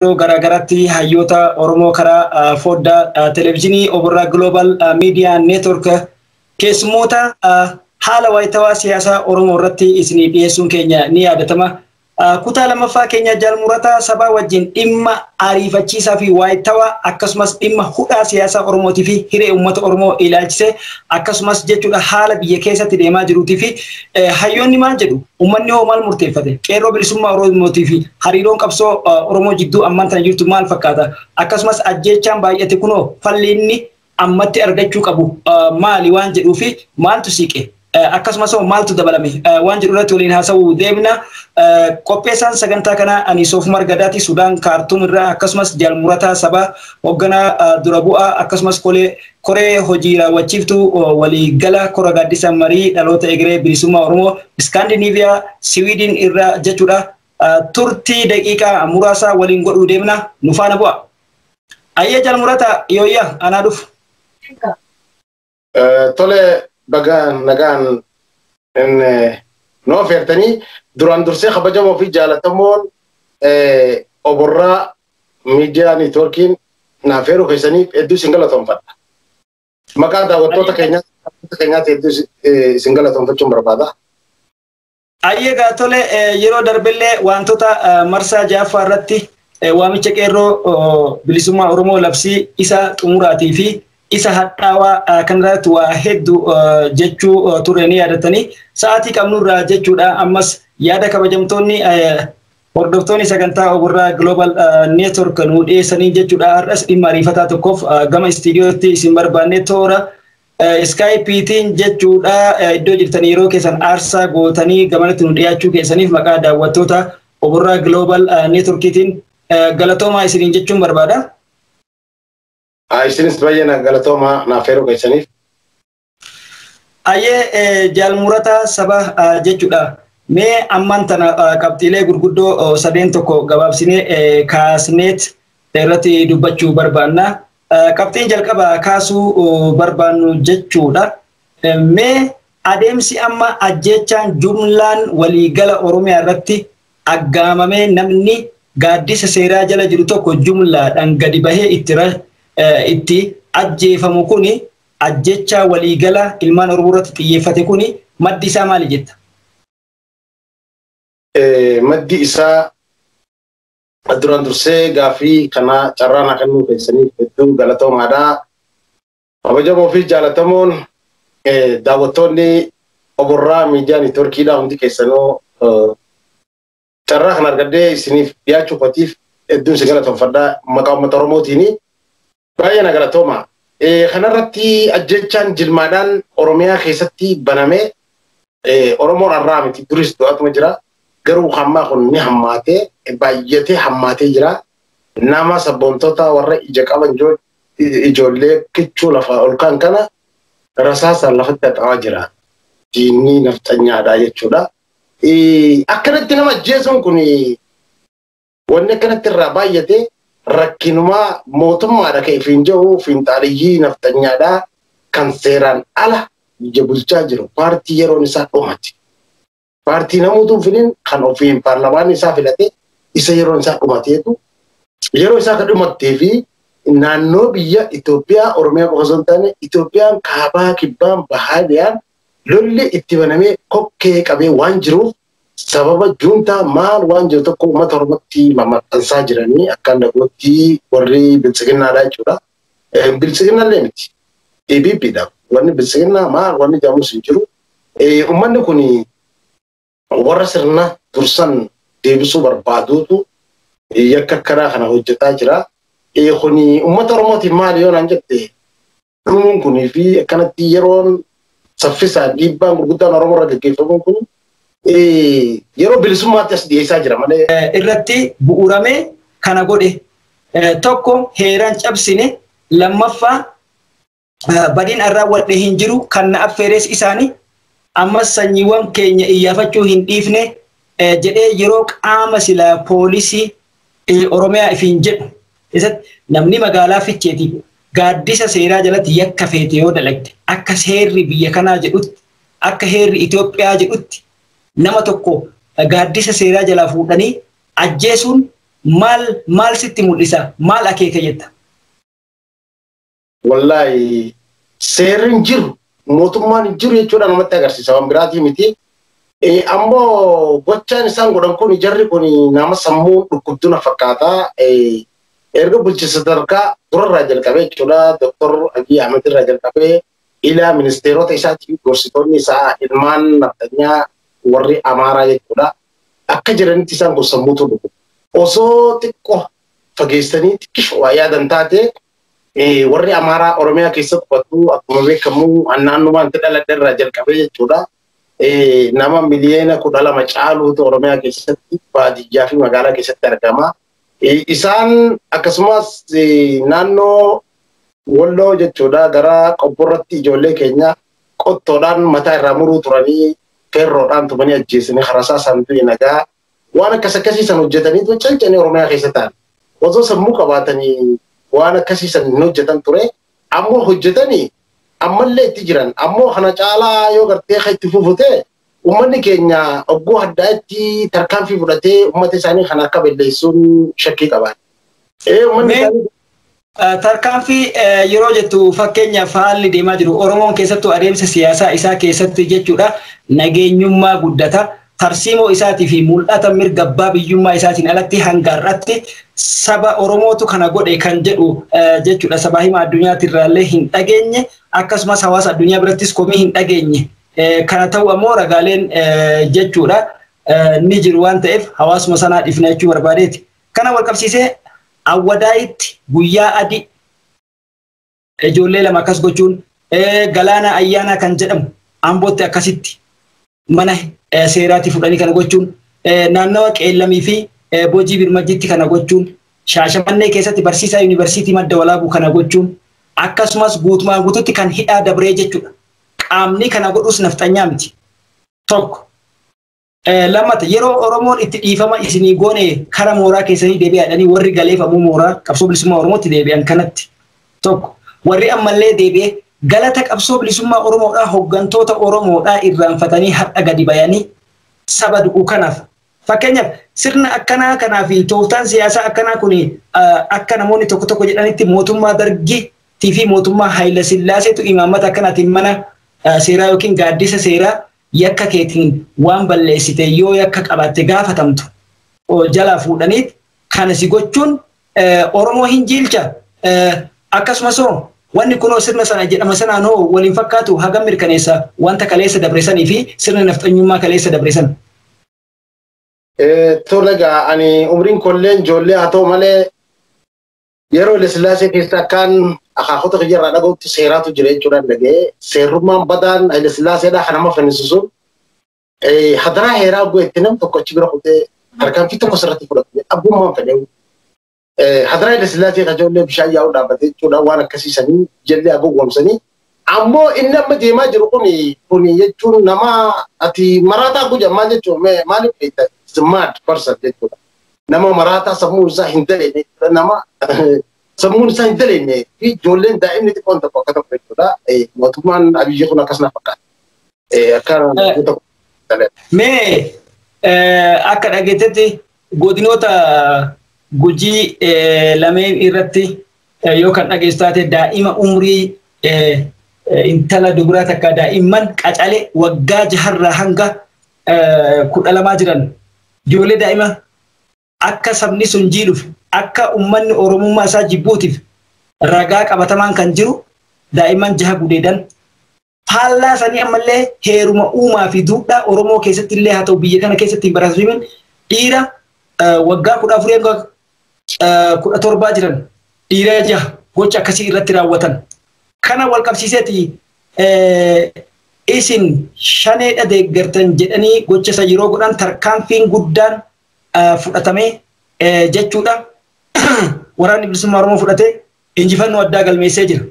yeroo garaagaratti hayyoota Oromoo karaa foddaa televezyiinii Oborraa Global Miidiyaa Neetwork keessummoota haala waayitawaa siyaasaa Oromoo irratti isinii dhiyeessuun keenya ni yaadatama. Kutaa lammaffaa keenya jaalmurataa sabaa wajjin dhimma ariifachiisaa fi waayitawaa akkasumas dhimma hudhaa siyaasaa Oromootii fi hiree uummata Oromoo ilaalchisee akkasumas jechuudha haala biyya keessatti deemaa jiruutii fi hayyoonni maal jedhu Uummanni hoo maal murteeffate? Qeerroo bilisummaa Oromootii fi hariiroon qabsoo Oromoo jidduu ammaan tana jirtu maal fakkaata? Akkasumas ajjeechaan baay'ate kunoo falli inni ammatti argachuu qabu maali waan jedhuu fi maaltu siiqe? Akkasumas hoo maaltu dabalame waan jedhu irratti waliin haasa'uu deemna. Qopheessaan sagantaa kanaa ani Soofumar Gadaati Sudaan Kaartuum irraa akkasumas Jaal Murataa Sabaa hoogganaa dura bu'aa akkasumas kolee Koree Hojii Raawwachiiftuu Walii Gala Kora Gaaddisa Marii Dhaloota Egeree Bilisummaa Oromoo Iskaandiniiviyaa, Siwiidin irra jechuudha. Turtii daqiiqaa muraasaa waliin godhuu deemna. Nu faana bu'a. Ayyee Jaal Murataa, yooyya anaa dhufu. Tole baga nagaan noo feertanii duraan dursee kabajamoo fi jaalatamoon oborraa Miidiyaa Niitwoorkiin na affeeruu keessaniif hedduu isin galatoomfadha. Maqaa daawwattoota keenyaatti hedduu isin galatoomfachuun barbaada. Ayyee gaa tole yeroo darbellee wantoota marsaa ja'affaa irratti waamicha qeerroo bilisummaa Oromoo labsii isa xumuraatii fi isa hadhaawaa kanarratti waa hedduu jechuu turre ni yaadatanii sa'aatii qabnurraa jechuudha ammas yaada kabajamtoonni Hordoftoonni sagantaa Oburraa Global Network nu dhiyeessanii jechuudha. Har'as dhimma ariifataa tokkoof gama istiidiyootti isin barbaannee toora iskaayipiitiin jechuudha. Iddoo jirtan yeroo keessan aarsaa gootanii gamanatti nu dhiyaachuu keessaniif maqaa daawwattoota Oburraa Global Networkiitiin galatoomaa isiniin jechuun barbaada. Isinis baay'ee galatoomaa naaf heeruu keessaniif. Ayyee jaalmurataa saba jechuudha. Mee ammaan tana qabxiilee gurguddoo sadeen tokko gabaabsinee kaasneet irratti dubbachuu barbaanna. Qabxiin jalqaba kaasuu barbaannu jechuudha. Mee adeemsi amma ajjeechaan jumlaan waliigala Oromiyaa irratti aggaamamee namni gaaddisa seeraa jala jiru tokko jumlaadhaan gadi bahee itti ajjeefamu kuni Ajjeechaa waliigalaa ilmaan Oromoo irratti xiyyeeffate kuni maddi isaa maali jetta? Maddi isaa duraan dursee gaaffii kana carraa naa kennuu keessaniif hedduu galatoomaadha. Kabajamoo fi jaalatamoon daawwattoonni Oborraa Miidiyaa Neetwoorkiidhaa hundi keessanuu Carraa kana argadhee isiniif dhiyaachuu kootiif hedduun si galatoomfadha maqaa uummata Oromootiin. Baay'ee na galatooma. Kanarratti ajjechaan jilmaadhaan Oromiyaa keessatti baname Oromoon har'aa miti duris du'atuma jira. Garuu hammaa kun ni hammaatee baay'atee hammaatee jira. Nama sabboontota warra ija qaban ijoollee kichuu lafaa ol kan kana rasaasaan lafatti haxaawaa jira. Diinni nafxanyaadha jechuudha. Akkanatti nama ajjeesuun kun wanni akkanatti irraa baay'ate rakkinumaa mootummaadha kan ifiin jedhu fiinxaaliyyii nafxanyaadha kan seeraan ala biyya bulchaa jiru paartii yeroon isaa dhumate. Paartii namuutuu finiin kan ofiin paarlamaan isaa filate isa yeroon isaa dhumateetu yeroo isaa kan dhumattee fi naannoo biyya Itoophiyaa Oromiyaa qofa osoo hin taane Itoophiyaan kaabaa kibbaan bahaa dhiyaan Lolli itti banamee kokkee qabee waan jiruuf sababa juuntaa maal waan jiru tokko uummata Oromootti mamaxxansaa jiranii akkaan dhagootti warri biltsiginnaadhaa jechuudha. Biltsiginnallee miti. EPP dha. Wanni biltsiginnaa maal wanni jedhamus hin jiru. Uummanni kun Warra sirna dursan deebisuu barbaaduutu yakka akkanaa kana hojjetaa jira. Kun uummata Oromootiif maali yoo naan jette dhumuun kunii fi akkanatti yeroon saffisaan dhiibbaan gurguddaan Oromoo irra gaggeeffamuun kun yeroo bilisummaatti as dhiyeessaa jira malee. irratti bu'uuramee kana godhe tokko heeran cabsine lammaffaa badiin an raawwadhe hin jiru kan na affeeres isaani ammas sanyiiwwan keenya iyyaafachuu hin dhiifne jedhee yeroo qaama silaa poolisii Oromiyaa ifiin jedhu keessatti namni magaalaa Ficheetiif gaaddisa seeraa jalatti yakka feete yoo dalagde akka seerri biyya kanaa jedhutti akka heerri Itoophiyaa jedhutti nama tokko gaaddisa seeraa jalaa fuudhanii ajjeesuun maal maal sitti mul'isa maal akeeka jetta? Wallaahi seerri hin jiru mootummaan hin jiru jechuudha namatti agarsiisa waan biraatii miti. Ammoo gochaan isaan godhan kun jarri kun nama sammuu dhukkubduna fakkaata. Erga bulchiinsa sadarkaa durarraa jalqabee jechuudha Dooktar Abiy Ahmed irraa jalqabee ilaa ministeerota isaatii gorsitoonni isaa ilmaan nafxanyaa warri Amaaraa jechuudha. Akka jiranitti isaan kun sammuutu dhukkubdudha. osoo xiqqoo fageessanii xiqqisho waa yaadan taate Warri Amaaraa Oromiyaa keessa qubatu akkuma beekamu naannumaan itti dhaladhe irraa jalqabee jechuudha. Nama miliyoona kudha lama caaluutu Oromiyaa keessatti baadiyyaa fi magaalaa keessatti argama. Isaan akkasumas naannoo Walloo jechuudha gara qobborratti ijoollee keenya qottoodhaan mataa irraa muruu turanii feerroodhaan tumanii ajjeesanii harasaa saantuu nagaa Waan akkas akkasii san hojjetanii tun cancanii Oromiyaa keessa ta'an. Osoo sammuu qabaatanii waan akkasii san hin hojjetan ture. Ammoo hojjetanii ammallee itti jiran. Ammoo kana caalaa yoo gartee kan itti fufute uummanni keenya ogguu haddaa'etti tarkaanfii fudhatee uummata isaanii kana akka balleessuun shakkii qabaata. Ee uummanni isaanii Tarkaanfii yeroo jettu fakkeenyaaf haalli deemaa jiru Oromoon keessattuu adeemsa siyaasaa isaa keessatti jechuudha nageenyummaa guddata tarsiimoo isaatii fi mul'ata mirga abbaa biyyummaa isaatiin alatti hanga har'atti saba Oromootu kana godhe kan jedhu jechuudha sabaa hima addunyaatti irraallee hin dhageenye akkasumas hawaasa addunyaa birattis komii hin dhageenye kana ta'u ammoo ragaaleen jechuudha ni jiru waan ta'eef hawaasuma sanaa dhifna jechuu barbaadeeti. Kana walqabsiisee Awwadaayitti guyyaa adii. Ijoollee lama akkas gochuun Galaanaa Ayyaanaa kan jedhamu Ambootti akkasitti mana seeraatii fudhanii kana gochuun naannawa Qeellamii fi Bojii Birmajjiitti kana gochuun Shaashamannee keessatti barsiisaa Yuunivarsiitii Madda Walaabuu kana gochuun akkasumas guutumaan guututti kan hidhaa dabree jechuudha. Qaamni kana godhus nafxanyaa miti. Tokko. Lammata yeroo Oromoon itti dhiifama isinii goone kara mooraa keessanii deebi'aadhanii warri galeef ammoo mooraa qabsoo bilisummaa Oromootti deebi'an kanatti tokko warri ammallee deebi'ee galata qabsoo bilisummaa Oromoodhaa hoggantoota Oromoodhaa irraanfatanii har'a gadi bayanii saba du'u kanaaf fakkeenyaaf sirna akkanaa kanaa fi tooftaan siyaasaa akkanaa kun akka namoonni tokko tokko jedhanitti mootummaa dargiitii fi mootummaa Haayila Sillaaseetu imaammata akkanaatiin mana seeraa yookiin gaaddisa seeraa yakka keetiin waan balleessite yoo yakka qabaatte gaafatamtu jalaa fuudhaniit kana si gochuun Oromoo hin jiilcha? Akkasumas hoo wanni kunoo sirna sana jedhama sanaan hoo wal hin fakkaatu hagam mirkaneessa wanta kaleessa dabre sanii fi sirna nafxanyummaa kaleessa dabre sana? Tole egaa ani umriin kolleen ijoollee haa ta'u malee Yeroo Hayilasillaasee keessa akkaan akaakota kiyya irraa dhagahutti seeraatu jira jechuudhaan dhaga'ee seerrummaan badaan Hayilasillaaseedhaa kan nama fannisisu hadaraa heeraa bu'e itti nam tokko achi bira kutee tarkaanfii tokko sirratti fudhatu abbummaan fedhee hadaraa Hayilasillaasee kan ijoollee bishaan yaa'uu dhaabbate jechuudhaan waan akkasii sanii jallee agowwamsanii Ammoo inni amma deemaa jiru kuni kuni jechuun nama ati maraataa koo jedhan maal jechuun mee maaliif beekta is a mad person jechuudha. Nama maraataa sammuun isaa hin daleenne jechuudha nama sammuun isaa hin daleenne fi ijoolleen daa'imni xiqqoon tokko akka tokko jechuudha mootummaan Abiyyi kun akkas na fakkaata. Eh, Akka Eh. tokko Mee eh, akka dhageettetti godinoota gujii eh, lameen irratti eh, yoo kan dhageessu taate daa'ima umrii eh, eh, intala dubaraa takka daa'imman qacale waggaa jaharraa hanga eh, kudha lamaa jiran ijoollee daa'ima akka sabni sun jiidhuuf akka ummanni Oromummaa isaa jibbuutiif ragaa qabatamaan kan jiru daa'imman jaha gudeedan. Faallaa sanii ammallee heeruma uumaa fi duudhaa Oromoo keessatti illee haa ta'u biyya kana keessatti hin barasiifamin dhiira waggaa kudha afurii hanga kudha torbaa jiran dhiira jaha gocha akkasii irratti raawwatan. Kana wal qabsiiseeti isin shaneedha deeggartan jedhanii gocha isa yeroo godhan tarkaanfiin guddaan fudhatamee jechuudha waraanni bilisummaa Oromoo fudhatee injifannoo addaa galmeessee jira.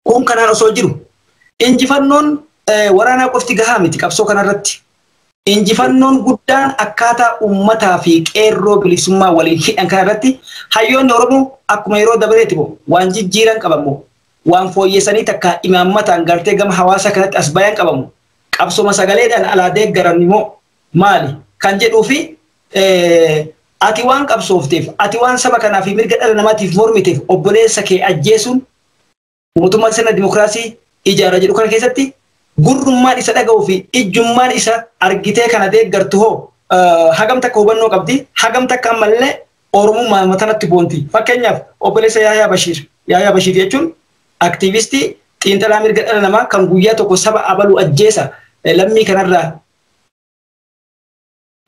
Kun kanaan osoo jiru injifannoon waraanaa qofti gahaa miti qabsoo kanarratti. Injifannoon guddaan akkaataa uummataa fi qeerroo bilisummaa waliin hidhan kanarratti hayyoonni Oromoo akkuma yeroo dabareeti moo waan jijjiiran qaban moo waan fooyyessanii takka imaammataan gartee gama hawaasaa kanatti as bayan qabamu qabsoma sagaleedhaan alaa deeggaran moo maali? kan jedhuu fi ati waan qabsoofteef, ati waan saba kanaa fi mirga dhala namaatiif mormiteef obboleessa kee ajjeesuun mootummaa sirna dimokiraasii ijaara jedhu kana keessatti gurrummaan isa dhaga'uu fi ijjummaan isa argitee kana deeggartu hoo hagam takka hubannoo qabdi? Hagam takka ammallee Oromummaa matanatti boonti? Fakkeenyaaf obboleessa Yaayaa Bashiir. Yaayaa Bashiir jechuun aktiivistii xiinxalaa mirga dhala namaa kan guyyaa tokko saba abalu ajjeesa lammii kanarraa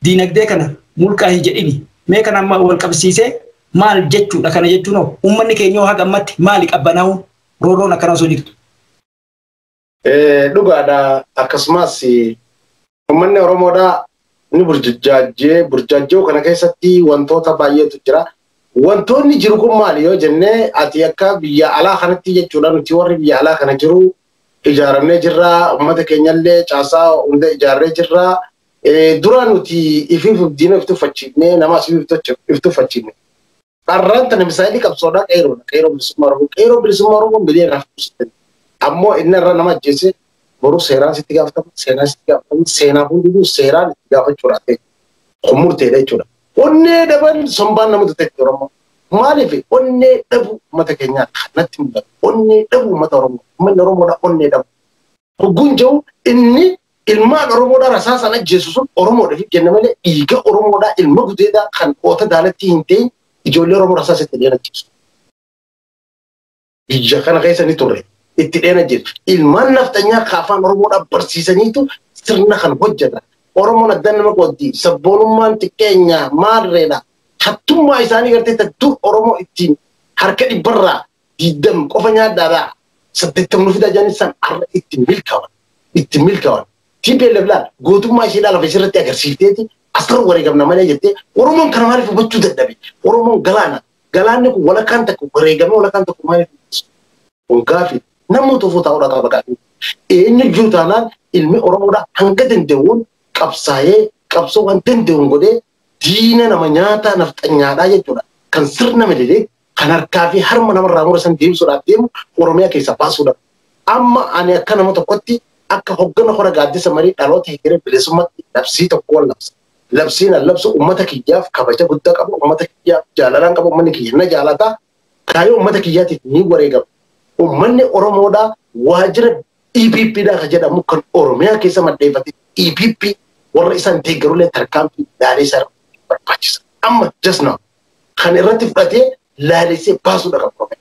Diinagdee kana mulqaa hin jedhini. Mee kana amma wal qabsiisee maal jechuudha kana jechuun hoo uummanni keenyoo haga ammatti maali qabbanaa'uun roorroon akkana osoo jirtu. Dhugaadha akkasumas uummanni Oromoodhaa ni burjaajjee burjaajjoo kana keessatti wantoota baay'eetu jira. Wantoonni jiru kun maali yoo jennee ati akka biyya alaa kanatti jechuudha nuti warri biyya alaa kana jiru ijaaramnee jirra. Uummata keenyallee caasaa hunda ijaarree jirra. Dura nuti ifiif diina if tuffachiifnee nama asii if tuffachiifne. Dharraan tana misaayilii qabsoodhaa qeeroodha. Qeeroo bilisummaa Oromoo. Qeeroo bilisummaa Oromoo miliyoona irraa fuudhuu Ammoo inni irra nama ajjeese boruu seeraan sitti gaafatama. Seenaan sitti gaafatama. Seenaa hundinuu seeraan itti gaafachuudhaaf kun murteedha jechuudha. Onnee dhaban sombaan nama duteetti Oromoo. Maaliif onnee dhabuu uummata keenyaa kan natti mul'atu onnee dhabuu uummata Oromoo uummanni Oromoodhaa onnee dhabuu. Hogguun jedhu inni ilmaan Oromoodhaa rasaasaan ajjeesu sun Oromoodhaaf jenne malee dhiiga Oromoodhaa ilma gudeedaa kan oota daalattii hin ta'in ijoollee Oromoo rasaasa itti dhiyeen ajjeesu. biyya kana keessa ni turre itti dheena jiru. Ilmaan nafxanyaa ka afaan Oromoodhaan barsiisaniitu sirna kan hojjetan. Oromoon adda nama qooddi. Sabboonummaan xiqqeenya maarreedha. Hattummaa isaanii gartee tan dur Oromoo ittiin harka dhibbarraa diddam qofa nyaadhaadhaa. Saddeettam nu fidaa jedhanii san har'a itti milkawan. Itti milkawan. TPLF laal gootummaa isheedhaa lafa isheerratti agarsiifteeti asirra wareegamna malee jettee Oromoon kana maaliif hubachuu dadhabe? Oromoon galaana Galaanni kun walakkaan takka wareegamee walakkaan tokko maaliif mul'isu? Kun gaaffii namni tufuu taa'uu dhagaa baqaatu. Eenyu jiru taanaan ilmi Oromoodhaa hanga danda'uun qabsaa'ee qabsoo waan danda'uun godhee diina nama nyaataa nafxanyaadhaa jechuudha. Kan sirna mililee kan harkaa fi harma namarraa mura san deebisuudhaaf deemu Oromiyaa keessaa baasuudha. Amma ani akka nama tokkotti akka hoggana hora gaaddisa marii dhaloota hegeree bilisummaatti labsii tokko wal labsa. labsiin an labsu ummata kiyyaaf kabaja guddaa qaba ummata kiyyaaf jaalalaan qaba ummanni kiyya na jaalata kaayoo ummata kiyyaatiif ni wareegama ummanni oromoodhaa waajjira EPP dhaa ka jedhamu kan oromiyaa keessa maddeeffate EPP warra isaan deeggarullee tarkaanfii ilaalee isaa barbaachisa amma just now kan irratti fudhatee laalessee baasuudha kan Oromiyaa.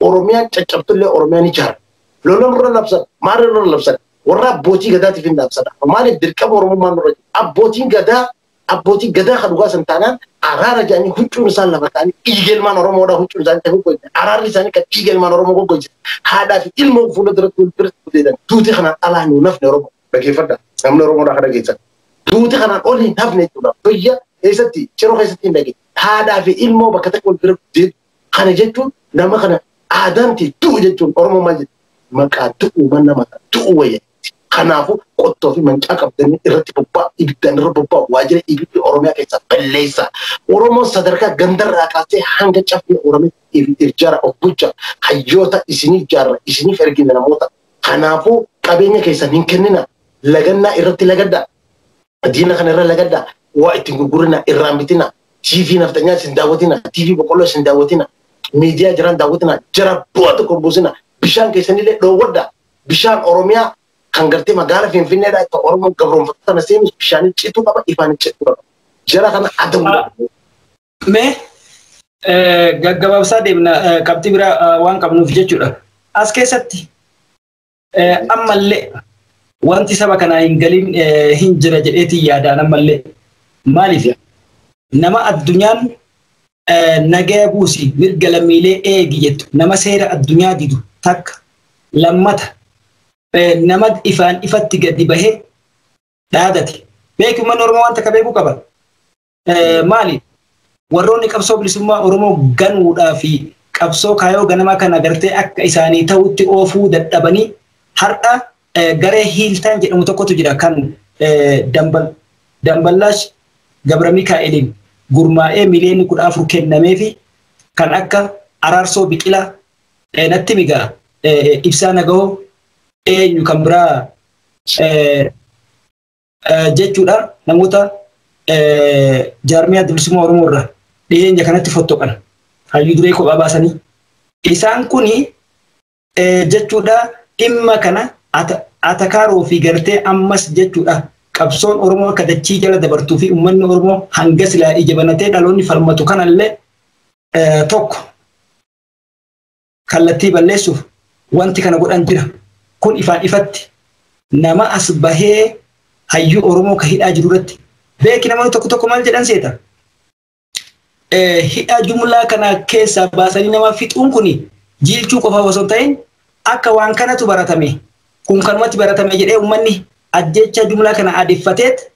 Oromiyaan caccabtullee Oromiyaa ni jaara. Lola nurra labsan, maal irra labsan? Warra abbootii gadaatiif hin labsan. Maaliif dirqama Oromummaan nurra jira? Abbootiin gadaa abbootii gadaa kan dhugaa san taanaan araara jedhanii huccuun isaan lafa ta'anii dhiiga ilmaan Oromoodhaa huccuun isaanii ta'e goggoyse. Araarri isaanii kan dhiiga ilmaan Oromoo goggoyse. Haadhaa fi ilmoo fuula duratti wal bira gudeedan duuti kanaan alaa nuu nafne Oromoo. Dhageeffadha. Namni Oromoo akka dhageessan. Duuti kanaan ol hin hafne jechuudha. Biyya keessatti ciroo keessatti hin dhage. Haadhaa fi ilmoo bakka takka wal bira guddee kana jechuun nama kana aadaan ti du'u jechuun Oromoo maal jedhu maqaa du'u man nama du'u wayya. Kanaafuu qottoo fi mancaa qabdanii irratti bobbaa ibiddaan irra bobbaa waajjira ibiddi Oromiyaa keessaa balleessaa. Oromoo sadarkaa gandarraa kaasee hanga caffee Oromiyaa ijaara of bulchaa. Hayyoota isinii ijaarra isiniif ergina namoota Kanaafuu qabeenya keessan hin kennina lagannaa irratti lagadha. Diina kana irra lagadha. Waa ittiin gurgurina irraan bitina. TV nafxanyaa isin daawwatina. TV boqqolloo isin daawwatina. Miidiyaa jiraan daawwatina. Jara bu'aa tokko buusina. Bishaan keessanillee dhoowwadha. Bishaan Oromiyaa kan gartee magaala Finfinneedha akka Oromoon gabroonfattota na seenus bishaanii cituu qaba ifaan cituu qaba. Jara kana adabuu qaba. Mee gaggabaabsaa deemna qabxii biraa waan qabnuuf jechuudha. As keessatti ammallee wanti saba kanaa hin galin hin jira jedheetiin yaadaan ammallee maaliif nama addunyaan nagaya buusi mirga lammiilee eegi jettu nama seera addunyaa didu takka lammata nama ifaan ifatti gadi bahee dhaadate beeku manni oromoo waan takka beekuu qaba maali warroonni qabsoo bilisummaa Oromoo ganuudhaa fi qabsoo kaayoo ganamaa kana gartee akka isaanii ta'utti oofuu dadhabanii har'a garee hiiltaan jedhamu tokkotu jira kan damballaash gabra mikaa'eliin gurmaa'ee miliyoonni kudha afur kennamee fi kan akka araarsoo biqilaa natti migaa ibsaa nagahoo eenyu kan biraa jechuudha namoota jaarmiyaa bilisummaa Oromoo irraa dhiyeenya kanatti fottoqan hayyuu duree kophaa baasanii isaan kun jechuudha dhimma kana atakaaroo fi gartee ammas jechuudha qabsoon Oromoo akka dachii jala dabartuu fi uummanni Oromoo hanga silaa ija banatee dhaloonni falmatu kanallee tokko kallattii balleessuuf wanti kana godhan jira. Kun ifaan ifatti nama as bahee hayyuu Oromoo ka hidhaa jiru irratti beeki namoonni tokko tokko maal jedhan seeta. Hidhaa jumlaa kana keessaa baasanii nama fixuun kun jiilchuu qofa osoo hin ta'in akka waan kanatu baratame kun kanumatti baratame jedhee uummanni ajjeechaa jumlaa kana aadeffateet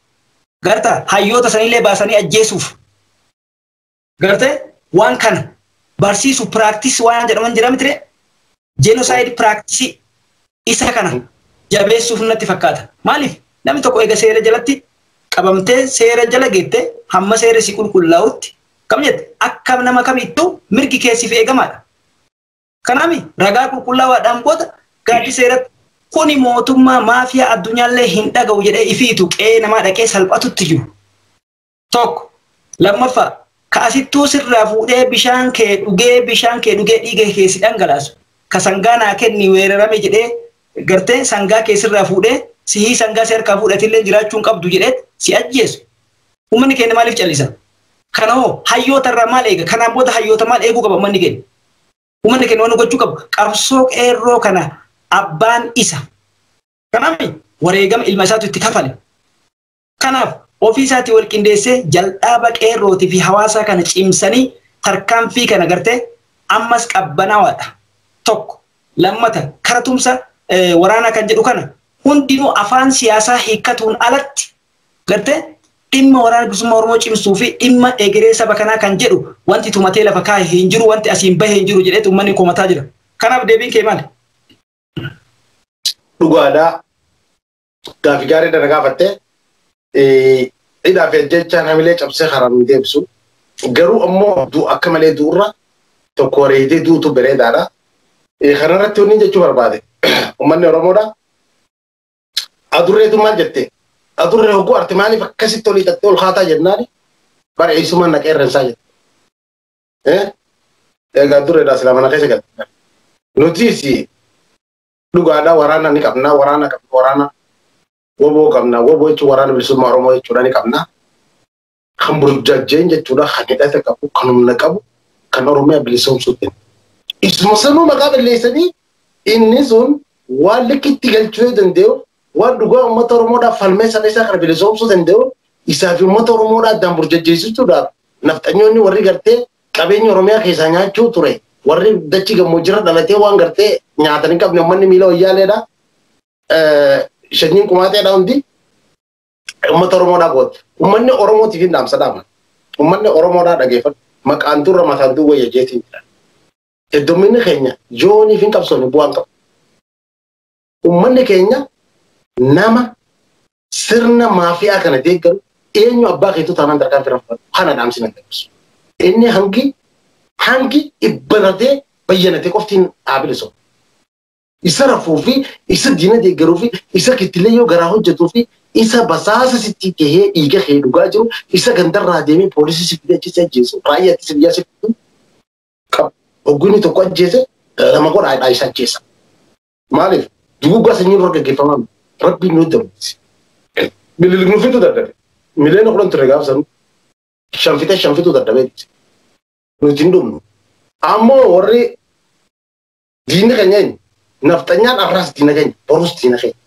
garta hayyoota sanillee baasanii ajjeesuuf Gartee waan kana barsiisu piraaktisii waan jedhaman jira mitire jenosaayid piraaktisii isa kana jabeessuuf natti fakkaata. Maaliif namni tokko eega seera jalatti qabamtee seera jala geette hamma seera si qulqullaa'utti kam jette akka nama kamittuu mirgi keessiif eegamaadha. Kanaami ragaa qulqullaawaadhaan booda gaaddi seeratti kuni mootummaa maafiyaa addunyaallee hin dhaga'u jedhee ifiitu qe'ee namaa dhaqee salphatutti jiru. Tokko. Lammaffaa ka asittuu sirraa fuudhee bishaan kee dhugee bishaan kee dhugee dhiiga kee si dhangalaasu ka sangaa naa kenni weerarame jedhee gartee sangaa kee sirraa fuudhee sihii sangaa si harkaa fuudhatillee jiraachuu hin qabdu jedhee si ajjeesu. Uummanni keenya maaliif callisa? Kana hoo hayyoota irraa maal eega? Kanaan booda hayyoota maal eeguu qaba uummanni keenya? Uummanni keenya waan gochuu qabu qabsoo qeerroo kana abbaan isa. Kanaaf wareegama ilma isaatu itti kafale. Kanaaf, ofii isaatii wal qindeessee jaldhaaba qeerrootii fi hawaasaa kana cimsanii tarkaanfii kana gartee ammas qabbanaawaadha. Tokko. Lammata kara tumsa waraanaa kan jedhu kana hundinuu afaan siyaasaa hiikkatuun alatti gartee dhimma Waraana Bilisummaa Oromoo cimsuu fi dhimma egeree saba kanaa kan jedhu wanti tumatee lafa kaahe hin jiru, wanti asiin bahe hin jiru jedheetu ummanni komataa jira. Kanaaf deebiin kee maali? Dhugaadha. Gaafi gaarii dana gaafatte hidhaa fi ajjechaan hamilee cabsee karaa nu deebisu. Garuu ammoo du'a akka malee du'urra tokko wareegdee duutu bareedaadha. Kanarratti wanni jechuu barbaade uummanni Oromoodha. Adurreetu maal jette? Adurree hogguu arte maaliif akkasitti olii xaxxee ol kaataa jennaani? Bara eessumaan na qeerransaa jette. Egaa adurreedhaa silaa mana keessa galte. Nutiis dhugaadha waraana ni qabna waraana qabna waraana woboo qabna woboo jechuun waraana bilisummaa Oromoo jechuudha ni qabna. Kan burjajjeen jechuudha kan hidhata qabu kan humna qabu kan Oromiyaa bilisoomsuu ta'e. Isuma sanuu maqaa balleessanii inni sun waan likkitti galchuu yoo danda'u waan dhugaa uummata Oromoodhaaf falmee saba isaa kana bilisoomsuu danda'u isaa fi uummata Oromoodhaa addaan burjajjeessuudhaaf nafxanyoonni warri gartee Qabeenya Oromiyaa keessaa nyaachuu ture. Warri dachii gammoojjirra dhalatee waan gartee nyaatan hin qabne uummanni miila wayyaaleedha. Shanyiin qumaaxeedha hundi. Uummata Oromoodhaa goote. Uummanni Oromootiif hin dhaamsa dhaama. Uummanni Oromoodhaa dhageeffadhu. Maqaan durra mataan duwwa yajeetiin jira. Hedduminni keenya yooniif hin qabsoofne bu'aan qabu. Ummanni keenya nama sirna maafiyaa kana deeggaru eenyu abbaa keetu taanaan tarkaanfii irra fudhatu kana dhaamsi nan dabarsu. Inni hangi hangi ibbaratee bayyanatee qoftiin dhaabile soba. Isa rafuu fi isa diina deeggaruu fi isa kittilee yoo garaa hojjetuu fi isa basaasa sitti tahee dhiiga kee dhugaa jiru isa gandarraa deemee poolisii si fidee achi si ajjeesu raayyaa ittisa biyyaa si fiduu qabu. Hogguu inni tokko ajjeese lama godhaa isa ajjeesa. Maaliif duguuggaa sanyii dura gaggeeffamaa miti. Rabbiin nu dabalsi. Mililik nu fiduu dadhabe. Miliyoona kudhan ture gaafa sanuu. Shan fixee shan fixuu dadhabeetti. Nuti hin dhumnu. Ammoo warri diinni keenya eenyu? Nafxanyaan arraas diina keenya, borus diina keenya.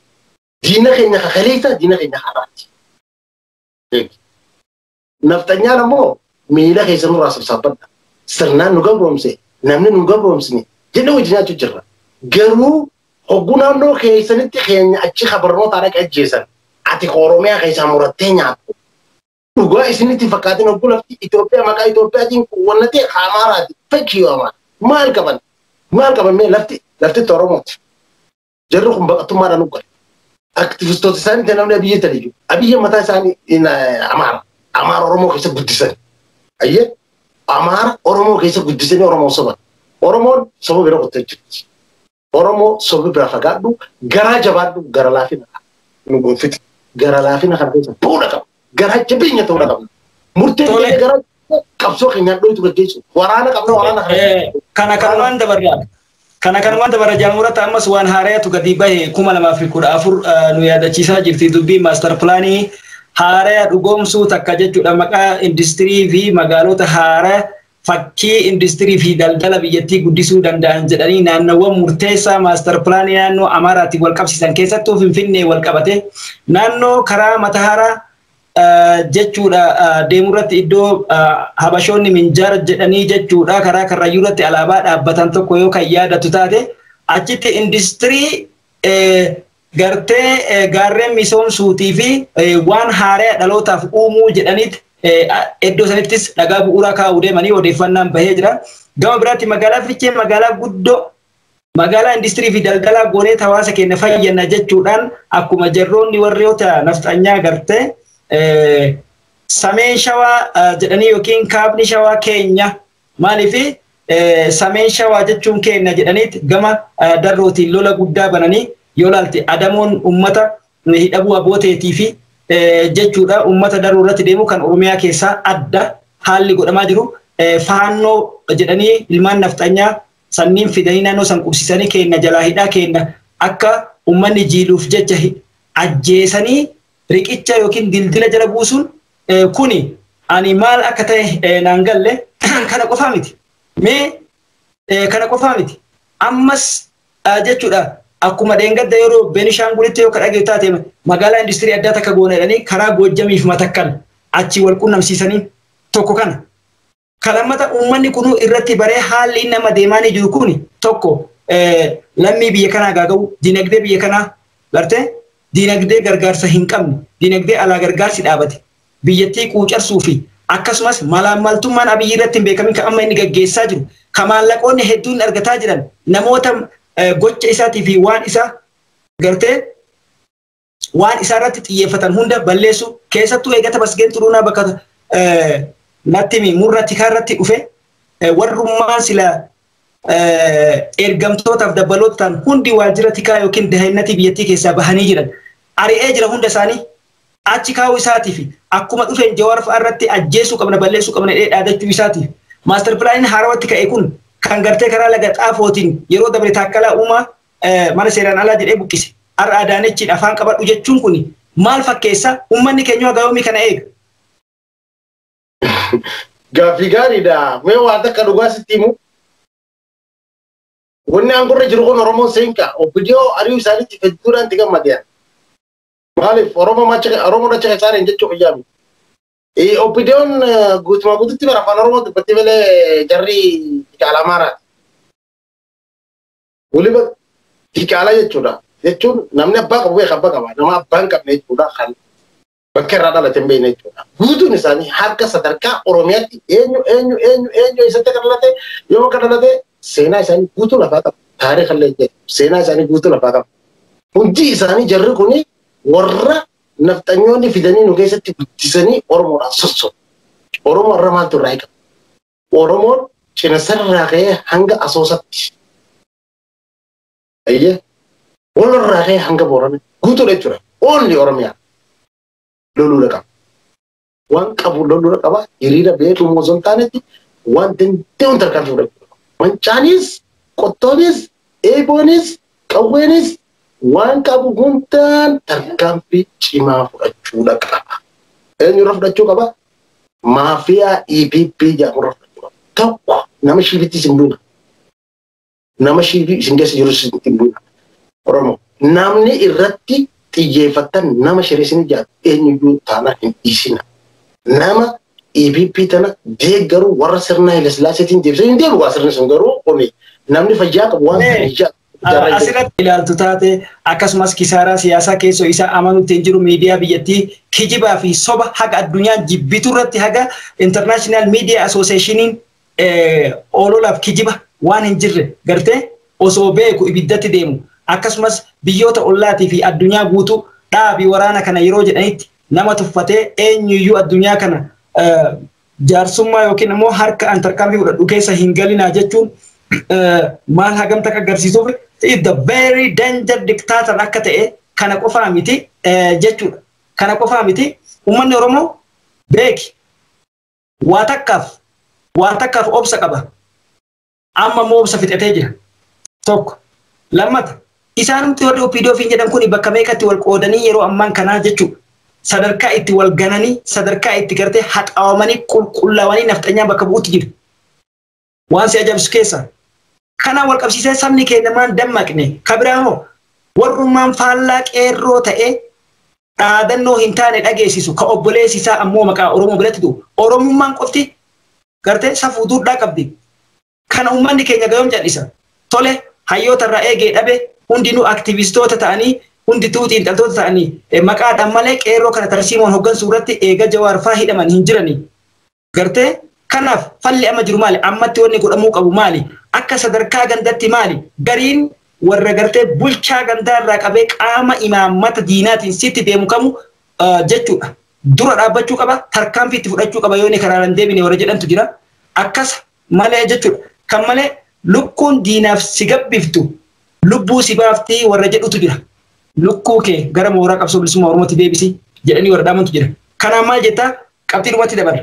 Diina keenya kakaleessaa, diina keenya har'aati. Beeki. Nafxanyaan ammoo miila keessa nurraa sabsaabbadha. Sirnaan nu gabroomse namni nu gabroomsine jennee wajjin nyaachuu jirra. Garuu hogguu naannoo keessanitti keenya achi ka barnootaa dhaqe ajjeesan ati ka Oromiyaa keessaa murattee nyaattu. Dhugaa isinitti hin fakkaatin hogguu lafti Itoophiyaa maqaa Itoophiyaatiin wanna ta'e ka Amaaraati. Fakkii yoo Amaara. Maal qaban? Maal qaban mee lafti laftitti Oromooti. Jarri kun baqattummaadhaan uggale. Aktivistoota isaanii ta'e namni abiyyi ta'e iyyuu. Abiyyi mataa isaanii Amaara. Amaara Oromoo keessa guddisan. Ayyee Amaara Oromoo keessa guddisanii Oromoo soban. Oromoon soba bira qottee jirti. Oromoo soba bira fagaadhu garaa jabaadhu gara laafina nu gonfite. Gara laafina kana keessa bu'uudha qaba. garaa jabeenya ta'uudha qabna. Murteen Tole. keenya garaa qabsoo keenyaan dhootu gaggeessu. Waraana qabna waraana kana. Eh, kana kanumaan dabarra kana kanumaan dabarra jaamurata ammas waan haarayatu gadi bahe kuma lamaa fi kudha afur eh, nu yaadachiisaa jirti dubbii maastar pilaanii haaraya dhugoomsuu takka jechuudha maqaa industirii fi magaalota haaraya fakkii industirii fi daldala biyyattii guddisuu danda'an jedhanii naannawwan murteessaa maastar pilaanii naannoo Amaaraatiin wal qabsiisan keessattuu Finfinnee wal qabate naannoo karaa Matahaaraa jechuudha deemu irratti iddoo habashoonni minjaara jedhanii jechuudha karaa karrayyuu irratti alaabaa dhaabbatan tokko yoo kan yaadatu taate achitti industirii gartee gaarreen misoomsuutii fi waan haaraya dhalootaaf uumuu jedhaniit iddoo sanittis dhagaa bu'uuraa kaa'uu deemanii odeeffannaan bahee jira. Gama biraatti magaalaa Fichee magaalaa guddoo magaalaa industirii fi daldalaa goonee hawaasa keenya fayyadna jechuudhaan akkuma jarroonni warroota nafxanyaa gartee sameen shawaa jedhanii yookiin kaabni shawaa keenya Maaliif sameen shawaa jechuun keenna jedhaniit gama darrootiin lola guddaa bananii yoo laalte adamoon ummata hidhabuu aboo teetii fi jechuudha ummata daruu irratti deemu kan oromiyaa keessaa adda haalli godhamaa jiru faannoo jedhanii ilmaan nafxanyaa sanniin fidanii naannoo san qubsisanii keenna jalaa hidhaa keenna akka ummanni jiiluuf jecha ajjeesanii riqicha yookiin dildila jala buusuun kuni ani maal akka ta'e naan galle kana qofaa miti. Mee kana qofaa miti. Ammas jechuudha akkuma dheengadda yeroo Beenishaangulitti yoo ka dhageessu taate magaalaa industirii addaa takka goona jedhanii karaa Goojjamiif matakkal achi wal qunnamsiisanii tokko kana. Ka lammata uummanni kunuu irratti baree haalli inni amma deemaanii jiru kun tokko lammii biyya kanaa gaaga'uu, dinagdee biyya kanaa gartee dinagdee gargaarsa hin qabne, dinagdee alaa gargaarsi dhaabate, biyyattii quucarsuu fi akkasumas malaammaltummaan Abiyyi irratti hin beekamin kan amma inni gaggeessaa jiru, ka maallaqoonni hedduun argataa jiran namoota gocha isaatii fi waan isaa gartee waan isaa irratti xiyyeeffatan hunda balleessuu keessattuu eegata masgeen xuruunaa bakka natti murna tikaa irratti dhufe warrummaan sila ergamtootaaf dabalootaan hundi waajjira tikaa yookiin daa'innatii biyyattii keessaa bahanii jiran ari'ee jira hunda isaanii achi kaa'uu isaatiif akkuma dhufeen jawaar fa'a irratti ajjeesuu qabna balleessuu qabna jedhee dhaadachuu isaatiif maastar pilaaniin haarawatti ka'e kun kan gartee karaa laga xaafootiin yeroo dabre taakkalaa uumaa mana seeraan alaa jedhee buqqise. Har'a Adaanechiin afaan qabadhu jechuun kun maal fakkeessa? Uummanni keenya haga yoomii kana eega? Gaaffii gaariidha. Mee waan takka dhugaa sitti himu. Wanni aangorra jiru kun Oromoo seenqa. Obbidiyoo ari'uu isaaniitti hedduudhaan itti gammadeen. Maaliif Oromoo macha Oromoo dacha keessaa hin jechuu kiyyaa miti. Oppidiyoon guutumaa guututti bara afaan Oromoo dubbatti malee jarri Diqaala Amaaraati. Waliba diqaalaa jechuudha. Jechuun namni abbaa qabu beeka abbaa qaba. Nama abbaa hin qabne jechuudha kan bakka irraa dhalate hin beekne jechuudha. Guutuun isaanii harka sadarkaa Oromiyaatti eenyu eenyu eenyu eenyu eessatti akka dhalate yoo akka dhalate seenaa isaanii guutuu lafaa qabu. Taariikha illee jedhu seenaa isaanii guutuu lafaa qabu. Hundi isaanii jarri kun warra nafxanyoonni fidanii nu keessatti guddisanii Oromoodhaan sossobu. Oromoo irra maaltu irraa eegama? Oromoon cinasarraa ka'ee hanga asoosatti. Ayyee walirraa ka'ee hanga boorana guutuudha jechuudha. Oolli Oromiyaa loluudha qaba. Waan qabu loluudha qaba. Hiriira beeku immoo osoo hin taanetti waan danda'uun tarkaanfii fudhachuu qaba. Mancaanis, qottoonis, eeboonis, qawweenis waan qabu hundaan tarkaanfii cimaa fudhachuudha qaba. Eenyurra fudhachuu qaba? Maafiyaa EPP jedhamu irra fudhachuu tokko nama shiifitti isin buuna. Nama shiifii isin keessa jiru isin buuna. Oromoo namni irratti xiyyeeffattan nama shireessin ijaartu eenyuyyuu taanaan hin dhiisina. Nama EPP tana deeggaru warra sirna Hayilasillaasiitiin deebisee hin deebi'u sirni sun garuu kuni namni fayyaa qabu waan sana ijaartu. Asirratti ilaaltu taate akkasumas kisaaraa siyaasaa keessoo isaa amanuutti hin jiru miidiyaa biyyattii kijibaa fi soba haga addunyaan jibbitu irratti haga International Media Associationiin oololaaf kijiba waan hin jirre gartee osoo beeku ibiddatti deemu akkasumas biyyoota ollaatii fi addunyaa guutuu dhaabi waraana kana yeroo jedhanitti nama tuffatee eenyuyyuu addunyaa kana jaarsummaa yookiin immoo harka an tarkaanfii fudhadhu keessa hin galinaa jechuun maal hagam takka agarsiisuuf is the very danger dictator akka ta'e kana qofaa miti jechuudha. Kana qofaa miti uummanni Oromoo beeki waa takkaaf waa takkaaf obsa qaba. Amma immoo obsa fixatee jira. Tokko. Lammata. Isaanumti warri OPDO fiin jedhan kun bakka meeqatti wal qoodanii yeroo ammaan kanaa jechuudha. Sadarkaa itti wal gananii, sadarkaa itti gartee haxaawamanii, qulqullaawanii nafxanyaan bakka bu'utti jiru. Waan si ajabsu keessaa. Kanaan wal qabsiisee sabni keenya maan dammaqne. Kabiraa hoo warrummaan faallaa qeerroo ta'ee dhaadannoo hin taane dhageessisu ka obboleessi isaa ammoo maqaa Oromoo biratti du'u. Oromummaan qofti gartee safuu duudhaa qabdi. Kana uummanni keenya gayoom cal'isa. Tole hayyoota irraa eegee dhabe hundinuu aktivistoota ta'anii hundituu xiinxaltoota ta'anii maqaadhaan malee qeerroo kana tarsiimoon hoggansuu irratti eega Jawaar faa hidhaman hin jiranii. Gartee kanaaf falli amma jiru maali? Ammatti wanni godhamuu qabu maali? Akka sadarkaa gandatti maali? Gariin warra gartee bulchaa gandaa irraa qabee qaama imaammata diinaatiin sitti deemu kamu jechuudha. dura dhaabbachuu qaba tarkaanfii itti fudhachuu qaba yoo inni karaarra hin deebine warra jedhantu jira akkas malee jechuudha kan malee lukkuun diinaaf si gabbiftu lubbuu si baaftii warra jedhutu jira lukkuu kee gara mooraa qabsoo bilisummaa oromootti deebisi jedhanii warra dhaamantu jira kanaan maal jettaa qabxii dhumatti dabarra.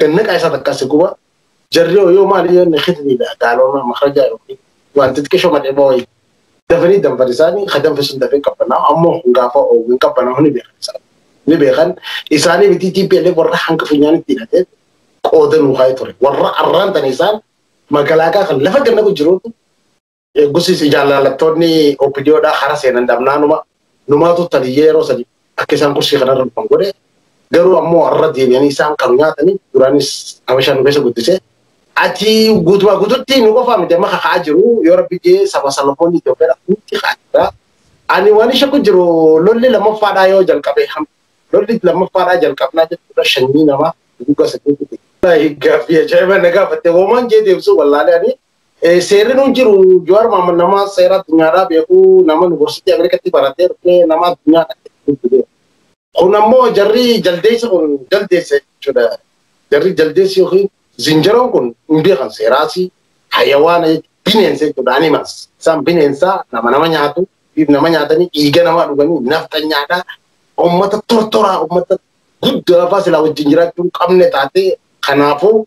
Gannaqaa isaa takkaa si guba. Jarri hoo yoo maali yoo inni kitniidha gaalooma makarajaa yookiin wanti xiqqishoo madheeboo wayii. Dafanii danfan isaanii ka danfe sun dafee qabbanaa'u ammoo kun gaafa oogu hin qabbanaa'u ni beekan isaan. Ni beekan isaanii miti TPLF warra hanga funyaanitti hidhatee qooda nuu kaa'ee ture. Warra arraan tana isaan magalaakaa kan lafa gannaqu jiruutu Eegusii si jaallattoonni OPDOdhaa hara seenan dhabnaanuma numaatu taliyyee yeroo sadi akka isaan kursii kanarra dhufan godhe garuu ammoo har'a deebi'anii isaan kan nyaatanii duraanis habashaa nu keessa guddise. Ati guutumaa guututti nu qofaa miti amma kaka'aa jiru yoo rabbi jee saba Salomoon Itoophiyaadha hundi ka'aa jira. Ani waan ishee kun jiru lolli lammaffaadhaa yoo jalqabe lolli lammaffaadhaa jalqabnaa jechuudha shanyii namaa guggaa saddeetti. Gaaffii ajaa'iba na gaafatte hoomaan jee deebisuu wallaalee ani Seerri nu jiru Jawaar Mohaammed nama seera addunyaadhaa beeku nama yuunivarsiitii Ameerikaatti baratee dhufe nama addunyaa dhaqeetti beeku. Kun ammoo jarri jaldeessi kun jaldeessa jechuudha. Jarri jaldeessi yookiin zinjaroon kun hin beekan seeraasi hayawaana bineensa jechuudha animals. Isaan bineensaa nama nama nyaatu nama nyaatanii dhiiga namaa dhuganii nafxanyaadhaa uummata tortoraa uummata guddaa faa silaa wajjin jiraachuu hin qabne taatee kanaafuu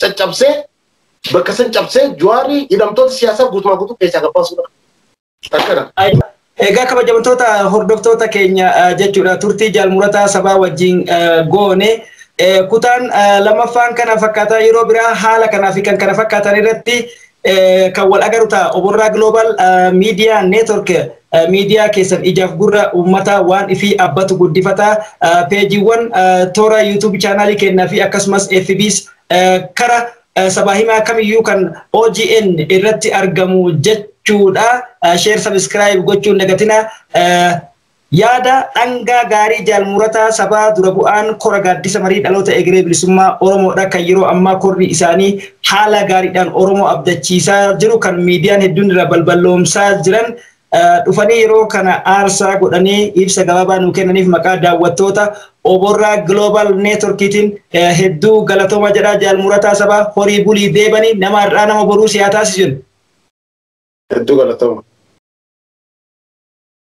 caccabsee bakka san cabsee Jawaarri hidhamtoota siyaasaa guutumaa guutuu keessaa gabbaasuudha. Akkana. Egaa kabajamtoota hordoftoota keenya jechuudha turtii jaalmurataa sabaa wajjin goone kutaan lamaffaan kana fakkaataa yeroo biraa haala kanaa fi kan kana fakkaatan irratti kan wal agaru ta'a. Oborraa Global Media Network miidiyaa keessan ijaaf gurra uummataa waan ifii abbatu guddifata. Peejiiwwan toora YouTube chaanaalii kennaa fi akkasumas FBs kara sabaa himaa kamiyyuu kan OGN irratti argamu jechuudha. Share subscribe gochuun dagatina. Yaada dhangaa gaarii Jaal Murataa Sabaa dura bu'aan Kora Gaaddisa Marii Dhaloota Egeree Bilisummaa Oromoodha kan yeroo ammaa korri isaanii haala gaariidhaan Oromoo abdachiisaa jiru kan miidiyaan hedduun irraa balballoomsaa jiran dhufanii yeroo kana aarsaa godhanii ibsa gabaabaa nuu kennaniif maqaa daawwattoota Oborraa Global Networkiitiin hedduu galatooma jedha Jaal Murataa Sabaa horii bulii deebanii nama har'aa nama boruu si haa taasisu jenna. Hedduu galatooma.